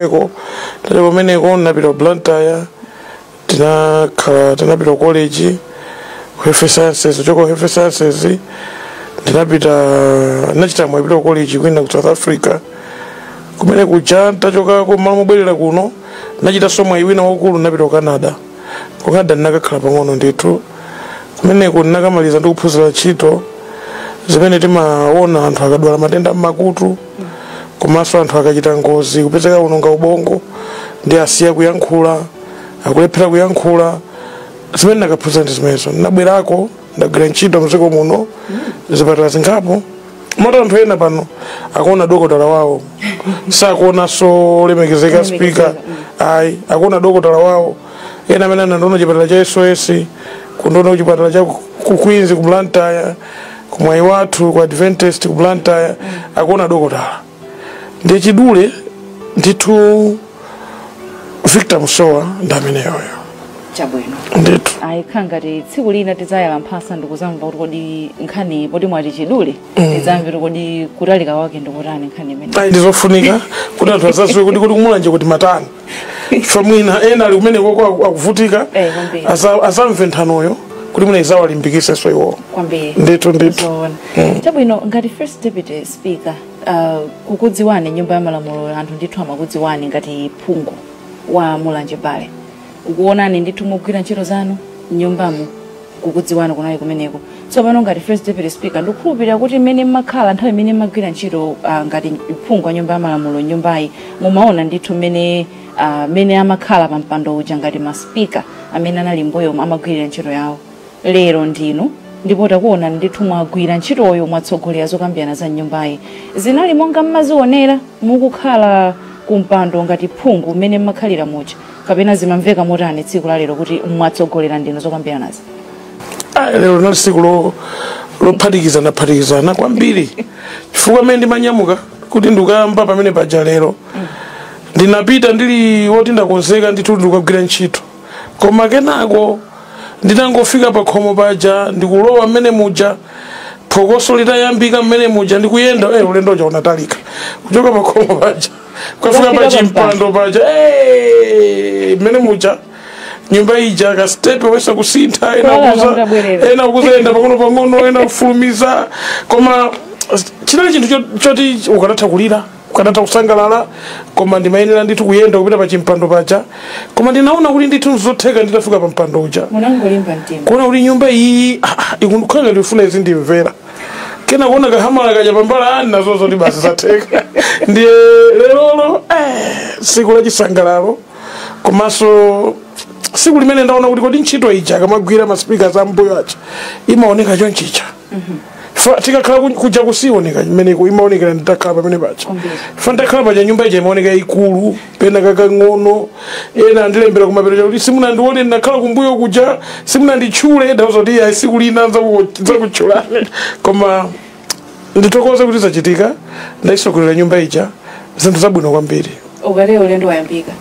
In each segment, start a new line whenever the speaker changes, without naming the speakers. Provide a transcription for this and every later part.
eko ndiye
kumeneko ndinapita ku blantyre tinakhala tinapita ku college ku health sciences kuchoka ku health sciences ndinapita ndinachita mwayi kupita ku college kwina ku south africa kumene kuja tachokako mmalo mobwerera kuno ndinachitanso mwayi wina waukulu ndinapita ku canada ku canada ndinakakhala pang'ono ndithu kumeneko ndinakamaliza ndikuphunzira ntchito zimene timaona anthu akadwala matenda mmakutu komanso anthu akachita ngozi kupezeka awononga ubongo ndi asiya kuyankhula akulephera kuyankhula zimene ndakaphunzira ndi zimenezo nditabwerako ndagwira ntchito mdziko muno zipatala zingapo moti anthu ena pano akuona dokotala wawo sakuonanso olemekezeka spika ayi akuona dokotala wawo ena amene anandiona kuchipatala cha sos kundiona kuchipatala cha ku- ku queens ku blantyre kumwaiwathu ku adventist ku blantyre akuona dokotala ndiye chidule ndithu victor musowa ndi ameneyoyo chabwino
ndithu
zikhala ngati
tsiku lina tidzayala mphasa ndikuzamva kuti kodi nkhani poti mwati chidule tidzamve kuti kodi kutalika wake ndikutani nkhani imeneyi ndizofunika kuti
anthu adzadziwe kuti kuli kumulanje kuti mumatani so mwina ena ali kumenekoko akuvutika Eh, kwambiri. aza- azamve nthanoyo kuti mwina izawalimbikitsenso iwowo kwambiri ndithu
ndithu
zoona chabwino
ngati first deputy speaker uh, kukudziwani nyumba ya malamulo anthu ndithu amakudziwani ngati phungu wa mulanje bale kukuonani ndithu mukugwira ntchito zanu mnyumbamo kukudziwani kunali kumeneko tsopano ngati first deputy speaker ndikukhulupirira kuti mmene mmakhala nthawi imene mmagwira ntchito ah, ngati phungu wa nyumba ya malamulo mnyumbayi mumaona ndithu mmene ah, mmene amakhala pa mpando uja ngati maspika amene anali mbuyo amagwirira ntchito yawo lero ndinu ndipo takuonani ndithu mwagwira ntchitoyo mwatsogolera zokambirana za mnyumbayi zinali monga mmazionera mukukhala kumpando ngati phungu mmene mmakhalira muja kapena zimamveka motani tsiku la lero kuti mwatsogolera ndinu zokambiranazi Ah,
lero linali tsiku lo- lophatikizana phatikizana kwambiri chifukwa mmene ndimanyamuka kuti ndikuyamba pamene paja lero ndinapita ndili woti ndakonzeka ndithu ndikukagwira ntchito koma kenako ndinangofika pa khomo paja ndikulowa mmene muja phokoso litayambika mmene muja ndikuyenda eh, ulendo uja unatalika kuchoka pa khomo paja kufika pa chimpando paja eh, mmene muja nyumba ija ka step kuyesa kusintha ena kenaka kuzabwerera. ena kuzayenda pang'ono pang'ono ena kufulumiza koma chinali chinthu cho- choti ukanatha kulira ukanatha kusangalala koma ndimayenera ndithu kuyenda kupita pa chimpando paja koma ndinaona kuti ndithu nzotheka nditafika pa mpando uja ndinangolimba mtima kuona
kuti nyumba iyi
ah, ah, ikundikhala ndifuna izi ndimvera kena kuona kahamala kaja pambala ani nazo zoti basi zatheka ndiye lero eh, siku la chisangalalo komanso siku limene ndaona kuti kodi ntchito ija akamagwira maspeakers ambuyo aja imaoneka chonchicha Fa- tikakhala ku- kuja siioneka mmene imaonekera nditakhala pamene paja fa nditakhala paja nyumba ija imaoneka yaikulu pena kakang'ono ena andilembera kumapeto kuti simunandione ndinakhala kumbuyo kuja simunanditchule ndawauza kuti iyayi siku lina nzakutchulani koma ndithokoze kuti zachitika ndayisogolera nyumba ija zinthu zabwino kwambiri ukale
ulendo wayambika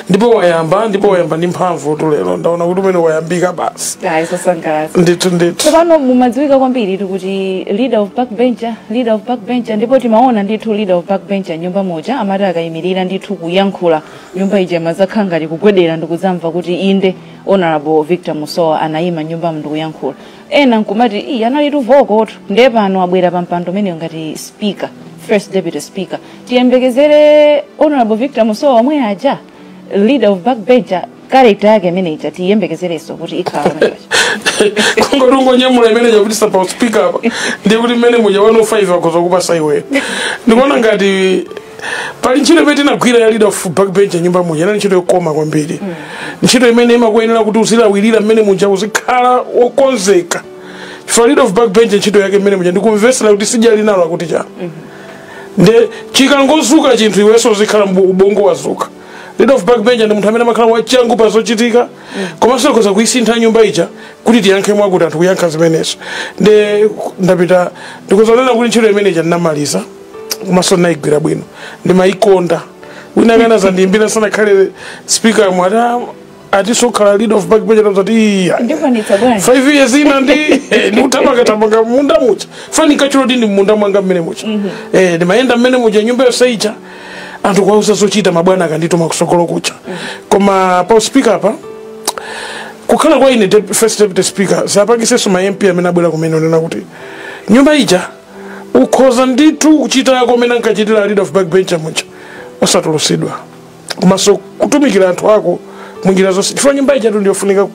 ndipo wayamba ndipo wayamba ndi mphamvutu lero ndaona kuti mmene wayambika basi ayi zosangalatsa
ndithu ndithu tsopano
mumadziwika
kwambiri kuti leader of backbencher leader of backbencher ndipo timaona ndithu leader of backbencher mnyumba muja amati akayimirira ndithu kuyankhula nyumba ija imazakhala ngati kugwedera ndikuzamva kuti inde honorable victor musowa anayima mnyumba ndikuyankhula ena nkumati iyi anali tuvokotu ndiye pano abwera pa mpando umenewo ngati speaker first deputy speaker tiyembekezere honorable victor musowa omwe aja leader of back bencher character yake imene ija tiyembekezereso kuti ikhala pamene
paja. kungoti ukangonyamula imene ija kupititsa pa speaker apa ndiye kuti mmenemuja 105 akhoza kupasa iweyo ndikuona ngati pali ntchito imene tinagwira ya leader of backbench mnyumba muja inali ntchito yokoma kwambiri ntchito imene imakuyenera kuti uzilawirira mmenemuja uzikhala wokonzeka chifukwa leader of backbench ntchito yake mmenemuja ndikumvesera kuti side inayo akuti chani nde chikangozuka chinthu iwenso uzikhala mbu- ubongo wazuka leader of backbencher ndi munthu amene amakhala wachangu pa zochitika komanso akhoza kuyisintha nyumba ija kuti tiyankhule mwakuti anthu kuyankhula zimenezo nde ndapita ndikhoza kunena kuti ntchito imene ija ndinamaliza komanso ndinayigwira bwino ndimayikonda wina anazandiyimbira ndisanakhale speaker amati "Ah, ati muzakhala leader of backbencher ndati iyayi
ndikwanitsa bwanji 5 years ina
ndi ndikutamanga tamanga munda muja paja kachiro ndi ndi munda mwanga mmenemuja eh ndimayenda mmenemuja nyumba yonse ija anthu kuwauza zochita mabwana akandituma kusogolo kuja koma pa speaker apa kukhala kwa ine dep- first deputy speaker zapangisanso ma mp amene abwera kumene kuona kuti nyumba ija ukhoza ndithu kuchita ngati mmene ankachitira leader of backbencher muja osatulusidwa komanso kutumikira anthu ako munjira zonse chifukwa nyumba ijatu ndiyofunika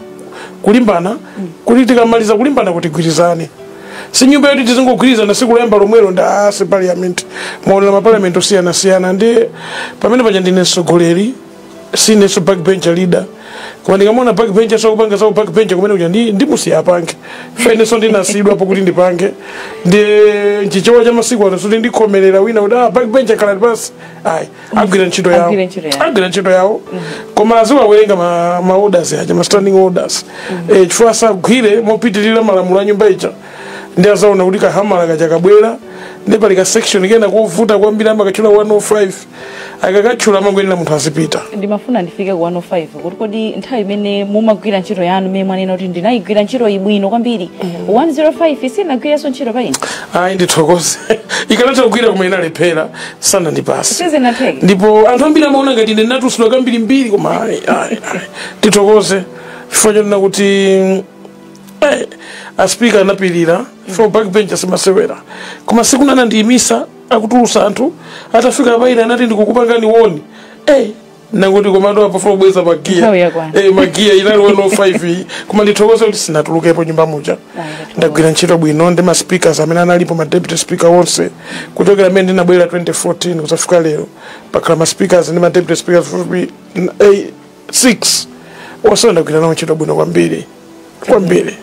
kulimbana kuti tikamaliza kulimbana tigwirizane si nyumba yoti tizingogwirizana siku loyamba lomwelo ndi ase parliament maonera maparliament osiyanasiyana ndi pamene paja ndine mtsogoleri sinenso backbencher leader koma ndikamaona backbencher akupanga zaku backbencher kumene kuja ndizimusiya apange paja inenso ndinasiyidwapo kuti ndipange nde mchichewa cha masiku ano sikuti ndikhomerera wina kuti ah backbencher khalani pansi ayi agwira ntchito yawo Agwire ntchito yawo. agwira ntchito yawo koma aziwawerenga ma, ma orders aja ma standing orders eh, chifukwa asagwire mopitirira malamulo a nyumba ija ndizaona kuti kahamala kaja kazabwera ndi pali ka section kena kovuta kwambiri amakatchula 105 akakatchula amangoyenera munthu azipita ndimafuna ndifike
ku 105 kuti kodi nthawi imene mumagwira ntchito yanu imene mwanena kuti ndinayigwira ntchito yabwino kwambiri 105 sinagwirepo ntchito pa ine ayi ndithokoze
ikanatha kugwira koma inalephera sanandipase sizinatheke
ndipo anthu ambiri
amaona ngati ine ndinatulutsidwa kambirimbiri koma ayi, ayi, ayi. ndithokoze chifukwa chonena kuti eh, aspika anapirira fo backbench asimasewera koma siku lina anandiyimisa akutulusa anthu atafika paine anati ndikukupangani woni eh, nangoti komatu apa ndafuna kubweza magiya magiya inali 105 iyi koma ndithokoze kuti sinatulukepo nyumba muja ndagwira ntchito bwino ndi ma speakers amene analipo ma deputy speaker onse kuchokera mmene ndinabwera 2014 kuzafika lero pakhala ma speakers ndi ma deputy speakers 6 onse ndagwira nawo ntchito bwino kwambiri kwambiri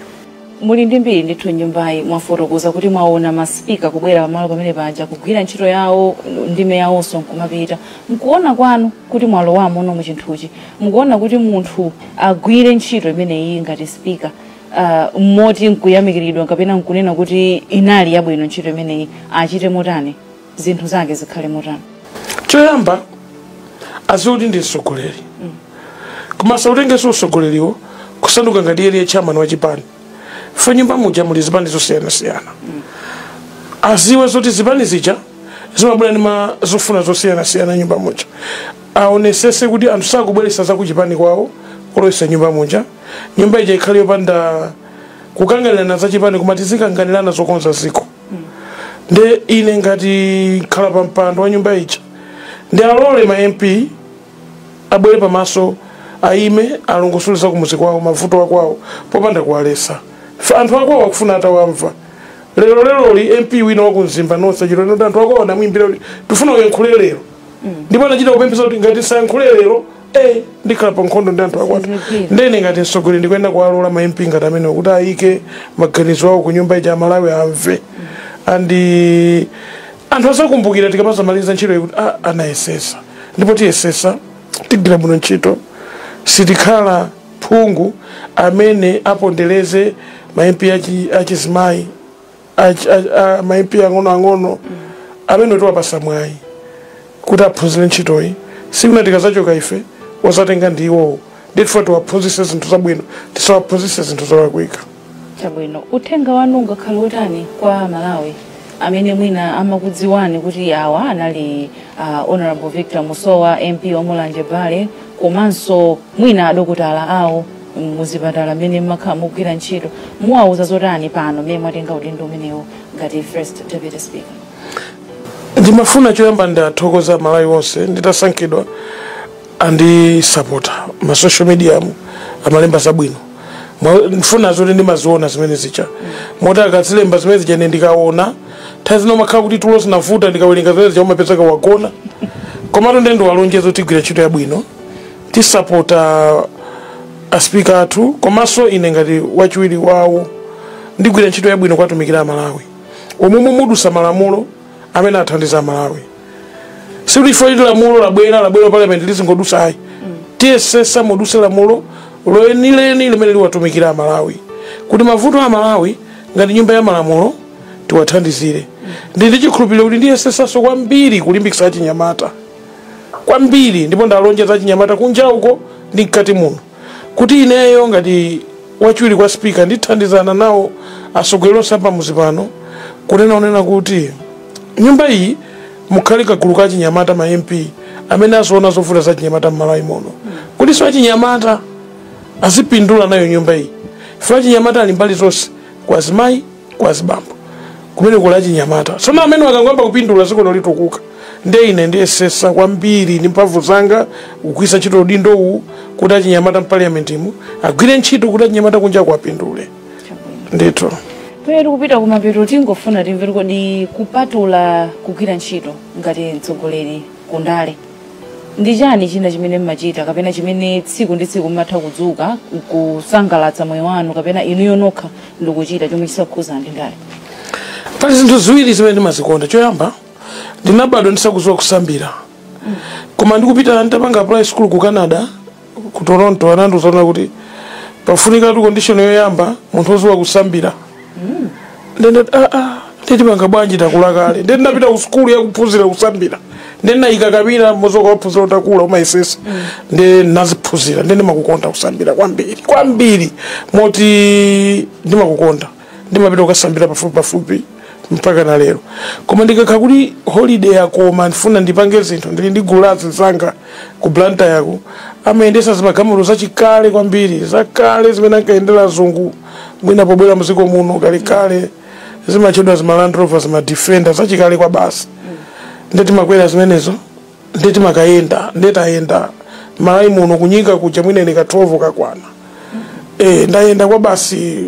muli ndi mbiri ndithu mnyumbayi mwafotokoza kuti mwaona masipika kubwera pamalo pamene paja kugwira ntchito yawo ndime yawonso nkumapita mkuona kwanu kuti mwalowamo muno mu chinthuchi mukuona kuti munthu agwire ntchito imeneyi ngati spika uh, mmoti nkuyamikiridwa kapena nkunena kuti inali yabwino ntchito imeneyi achite motani zinthu zake zikhale motani
choyamba aziwe kuti ndi mtsogoleri koma asautengenso utsogoleriwo kusanduka ngati iye ndiye chairman wa chipani fo nyumba muja muli zipani zosiyanasiyana aziwe zoti zipani zija zimabwera ndi zofuna zosiyanasiyana nyumba muja aonesese kuti anthu sakubweresa za kuchipani kwawo kulowesa nyumba muja nyumba ija ikhale yopanda kukanganirana za chipani koma tizikanganirana zokonza ziko nde ine ngati ndikhala pa mpando wa nyumba ija ndiwalole ma mp abwere pamaso ayime alongosole za kumuzi kwawo mavuto akwawo popanda kuwalesa Fe anthu akwawo akufuna atawamva lero leroli mp wina wakumzimba north anachita kuti anthu akwawo anamwimbira kuti tifuna uyankhule lero ndipo anachita kupempha kuti ngati sayankhule lero eh ndikhala pa nkhondo ndi anthu akwathu nde ine ngati mtsogoleri ndikuyenera kuwalola ma MP ngati amenewa kuti ayike maganizo awo ku nyumba ija amalawi amve and anthu azakumbukira tikamazamaliza ntchito iyi kuti ah, anayesesa ndipo tiyesesa tigwira bwino ntchito sitikhala phungu amene apondereze ma MP achi- achizimayi ma MP ang'onoang'ono amene tiwapasa mwayi kuti aphunzire ntchitoyi since tikazachoka ife ozatenga ndi iwowo ndithu tiwaphunzise zinthu zabwino tisawaphunzise zinthu zolakwika
chabwino uthenga wanu ungakhale wotani kwa amalawi amene mwina amakudziwani kuti awa anali uh, honorable victor musowa mp wa mulanje bale komanso mwina adokotala awo muzipatala mmene mmakhala mukugwira ntchito muwauza zotani pano mmene mwatenga udindo umenewo ngati first deputy
speaker ndimafuna choyamba ndiwathokoze amalawi onse nditasankhidwa andisapota ma social media amu amalemba zabwino Mwa- ndifuna adziwe zoti ndimaziona zimene zija moti akazilemba zimene zija ine ndikaona nthawi zina umakhala kuti tulo tinavuta ndikawerenga zimene zija umapezeka wagona komatu ndiye ndiwalonjeze kuti tigwira ntchito yabwino tisapota aspika athu komanso ine ngati wachiwiri wawo ndigwira ntchito yabwino kuwatumikira amalawi umu mudusa malamulo amene athandiza amalawi sikuti chifukwa choti lamulo labwera labwera parliament lizingodusa ayi tiyesesa muduse lamulo lenileni limene liwatumikira amalawi kuti mavuto a malawi ngati nyumba ya malamulo tiwathandizire ndi ndi chikhulupiriro kuti ndiyesesanso kwambiri kulimbikitsa achinyamata kwambiri ndipo ndiwalonjeze achinyamata kunja uko ndi mkati muno kuti ineyo ngati wachiwiri kwa spika ndithandizana nawo atsogoleri onse apamudzi pano kunena kunena kuti nyumba iyi mukhale kagulu ka achinyamata ma mp amene aziona zovuta za achinyamata mmalawi muno kutinso achinyamata azipindula nayo nyumba iyi ife achinyamata ali mbali zonse kwa azimayi kwa azibambo kumene kuli achinyamata sono amene akangoyamba kupindula ziko lo litukuka nde ine ndiyesesa kwambiri ndi mphamvu zanga kugwiritsa ntchito udindo uwu kuti achinyamata mpaliyamentimu agwire ntchito kuti achinyamata kunja uku apindule ndithu pamene
tikupita kumapeto tingofuna timve kodi kupatula kugwira ntchito ngati mtsogoleri kundale ndi chani china chimene mmachita kapena chimene tsiku ndi tsiku mmatha kudzuka kusangalatsa moyo wanu kapena inuyo nokha ndikuchita chomwe chisakhuzani ndale
pali zinthu ziwiri zimene ndimazikonda choyamba ndinabadwa ndisakuziwa kusambira koma ndikupita nditapanga apply school ku canada ku toronto anandiuza kuti pafunikatu condition yoyamba munthu oziwa kusambira ndende aa nditipanga bwanji takula kale nde ndinapita ku sukulu yakuphunzira kusambira nde ndinakakamira mudziwa ukaphunzira utakula umayesesa nde naziphunzira nde ndimakukonda kusambira kwambiri kwambiri moti ndimakukonda ndimapita kukasambira pafupi pafupi mpaka na lero koma ndikakhala kuti holiday yakoma ndifuna ndipange zinthu ndili ndi gulu la azinzanga ku blantyre ko amayendesa zimagalimoto zachikale kwambiri zakale zimene ankayendera azungu mwina pobwera mdziko muno kalekale zimatchedwa zima land rover zima defender zachikale kwabasi nde timakwera zimenezo nde timakayenda nde tayenda malawi muno kunyika kuja mwina ine ka 12 kakwana e, ndayenda kwabasi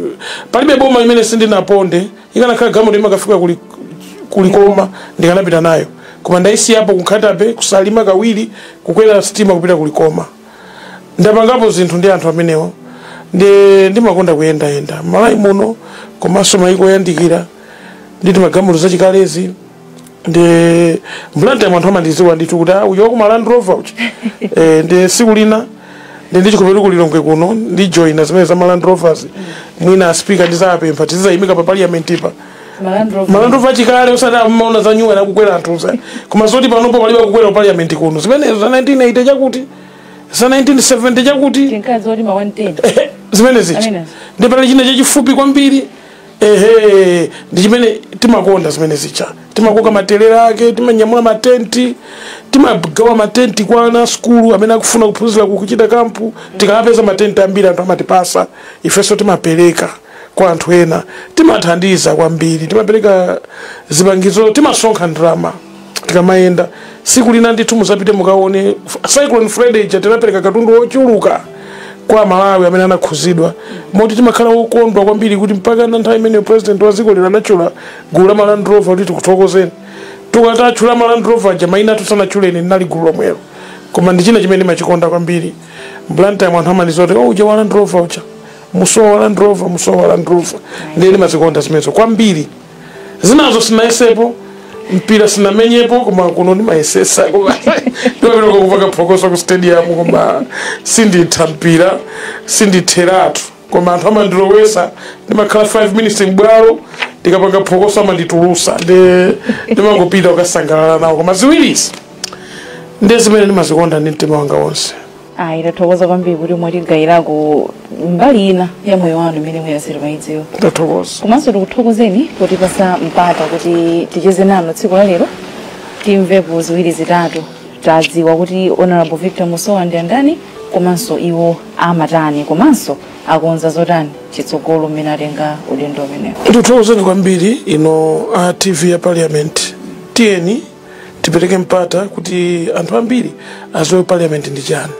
palibe boma limene sindinaponde ikanakhala galimoto imakafika kuli- kulikoma ndikanapita nayo koma ndayisiyapo ku nkhata bay ku salima kawiri kukwera sitima kupita kulikoma ndapangapo zinthu ndi anthu amenewo nde ndimakonda kuyendayenda malawi muno komanso mayiko oyandikira ndi zimagalimoto zachikalezi nde m'blantyre anthu amandiziwa ndithu kuti ah, uja wa land rover uja eh, nde siku lina nditi ndikopere ku lilongwe kuno ndijoina zimene za maland rovers mwina a speaker ndizapempha tizizayimika pa parliament pa ma land rover achikale usati amanowa zanyuwani akukwera anthuzi koma zoti panopo palibe akukwera parliament kuno zimenezo za 1980 chakuti za 1970 chakuti Tinkaziti
ma 110. zimene zichi
Amenezo. nde pali china chachifupi kwambiri ehe ndi chimene timakonda zimene zicha timakoka matelera ake timanyamula matenti timagawa matenti kwa ana a sukulu amene akufuna kuphunzira kuchita kampu tikapeza matenti ambiri anthu amatipasa ifenso timapereka kwa anthu ena timathandiza kwambiri timapereka zipangizo timasonkha ndalama tikamayenda siku lina ndithu muzapite mukaone cyclone freddy ija tinapereka katundu wochuluka kwa amalawi amene anakhuzidwa moti timakhala wokondwa kwambiri kuti mpaka na nthawi imeneyo president wa dziko lino anatchula gulu la maland rover kuti tikuthokozeni tikati atchula maland rover aja maina athu sanatchule ndinali m'gulu lomwelo koma ndi china chimene ndimachikonda kwambiri blantyre anthu amadziwa zoti oh uja wa land rover uja musowa wa land rover musowa wa land rover ndiye ndimazikonda zimenezo kwambiri zinazo sindinayesepo mpira sindinamenyepo koma kuno ndimayesesa koma ndimapita kukapanga phokoso ku stadium koma sinditha mpira sinditheratu koma anthu amandilowesa ndimakhala 5 minutes m'bwalo ndikapanga phokoso amanditulusa nde ndimangopita kukasangalala nawo koma ziwirizi ndi zimene ndimazikonda ndi mtima wanga wonse ayi
tathokoza kwambiri kuti mwatigawirako mbali ina ya moyo wanu imene mwina ambiri samaidziwa ndathokoza
komanso
tikuthokozeni potipasa mpata kuti ticheze nanu tsiku la lero timvepo ziwiri zitatu tadziwa kuti honorable victor musowa ndi andani komanso iwo amatani komanso akonza zotani mtsogolo mmene atenga udindo umenewo ndithokozeni kwambiri
inu a tv ya parliament tiyeni tipereke mpata kuti anthu ambiri aziwe parliament ndi chani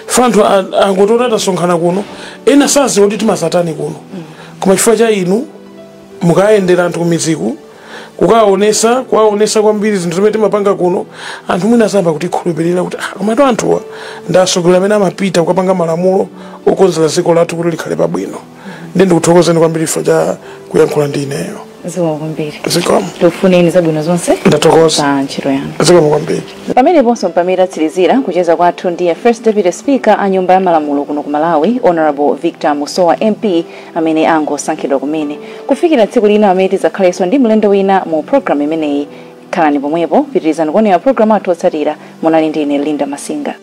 chifukwa anthu amangotiona tasonkhana kuno ena saziwa kuti timatsatani kuno koma chifukwa cha inu mukayendera anthu kumidziku kukaonesa kuwaonesa kwambiri zinthu zimene timapanga kuno anthu mwina azayamba kutikhulupirira kuti "Ah, komatu anthuwa ndi atsogoleri amene amapita kukapanga malamulo okonzera dziko lathu kuti likhale pabwino ndi ndikuthokozeni kwambiri chifukwa cha kuyankhula ndi ineyo
zikomo kwambiri zikomo
tikufunireni
zabwino zonse ndathokoza pa
ntchito
yanu zikomo
kwambiri pameneponso mpamene
tatsirizira kucheza kwathu ndi a first deputy speaker a nyumba ya malamulo kuno ku malawi honorable victor musowa mp amene angosankhidwa kumene kufikira tsiku lina pamene tidzakhalenso ndi mlendo wina mu programu imeneyi khalani pomwepo pitirizani kuonera maprogramu athu otsatira munali ndi ine linda masinga